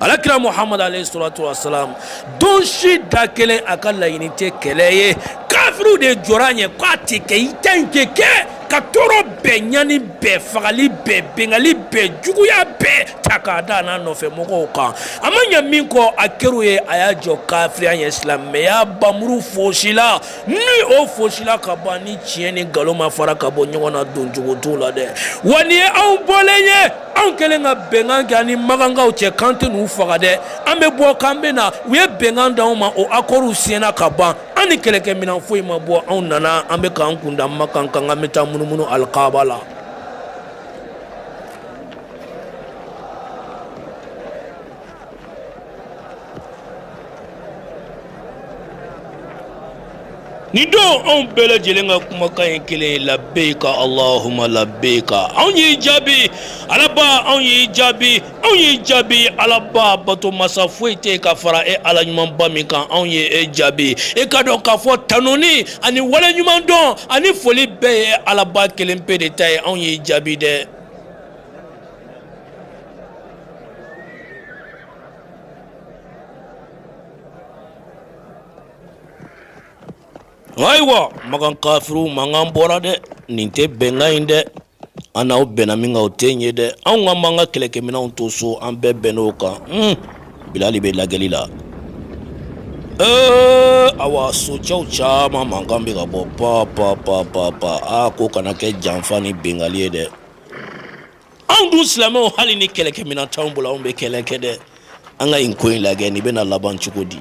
alakira muhamadu alayhi salatu wa salam don si da kelen a ka laɲini tɛ kɛlɛ ye kafiriw de jɔra a ɲɛ k'a tɛ kɛ i ta in tɛ kɛ ka tɔɔrɔ bɛɛ ɲani bɛɛ fagali bɛɛ binkanni bɛɛ juguya bɛɛ ta k'a da a n'a nɔfɛ mɔgɔw kan a ma ɲɛ min kɔ a kɛr'u ye a y'a jɔ kafiriya ɲɛ silamɛya npanmuru foosila ni o foosila ka ban ni tiɲɛ ni nkalon ma fara ka bɔ ɲɔgɔn na don cogo t'o la dɛ wa nin ye anw bɔlen ye anw kɛlen ka bɛnkan kɛ an ni makankaw cɛ k'an tɛ n'u faga dɛ an bɛ bɔ k'an bɛ na u ye bɛnkan d'anw ma o akɔriw siɲɛna ka ban an ni kɛlɛkɛminɛn foyi ma bɔ anw nana an bɛ k'an kun da makan kan k'an bɛ taa munumunu alikaaba la Nin don anw bɛɛ lajɛlen ka kumakan ye kelen ye labayka allahuma labayka anw y'i jaabi alaba anw y'i jaabi anw y'i jaabi alaba bato masa foyi tɛ ka fara e ala ɲumanba min kan anw ye e jaabi e k'a dɔn k'a fɔ tanuni ani waleɲumandɔn ani foli bɛɛ ye e alaba kelen pe de ta ye anw y'i jaabi dɛ Ayiwa makan kafiriw mankan bɔra dɛ nin tɛ bɛnkan in dɛ an n'aw bɛnna min kan o tɛ nin ye dɛ anw ka mankan ka kɛlɛkɛminɛnw to so an bɛɛ bɛnn'o kan bilali bɛ lajɛli la ee a socɛw caman mankan bɛ ka bɔ panp panp panp aa k'o kana kɛ janfa ni binkanni ye dɛ anw dun silamɛw hali ni kɛlɛkɛminɛn t'anw bolo anw bɛ kɛlɛ kɛ dɛ an ka nin ko in lagɛ nin bɛna laban cogo di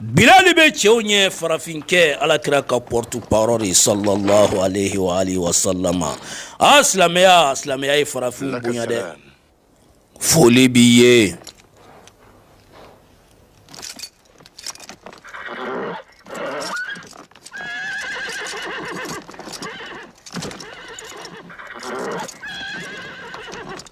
Bilali bɛ cɛw ɲɛ farafinkɛ alakira ka porte-parole salallahu alayhi wasalama aa silamɛya silamɛya ye farafin bonya dɛ foli b'i ye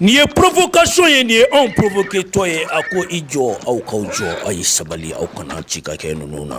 Nin ye provocation ye nin ye anw provoketɔ ye a ko i jɔ aw k'aw jɔ aw ye sabali aw kana ci ka kɛ ninnu na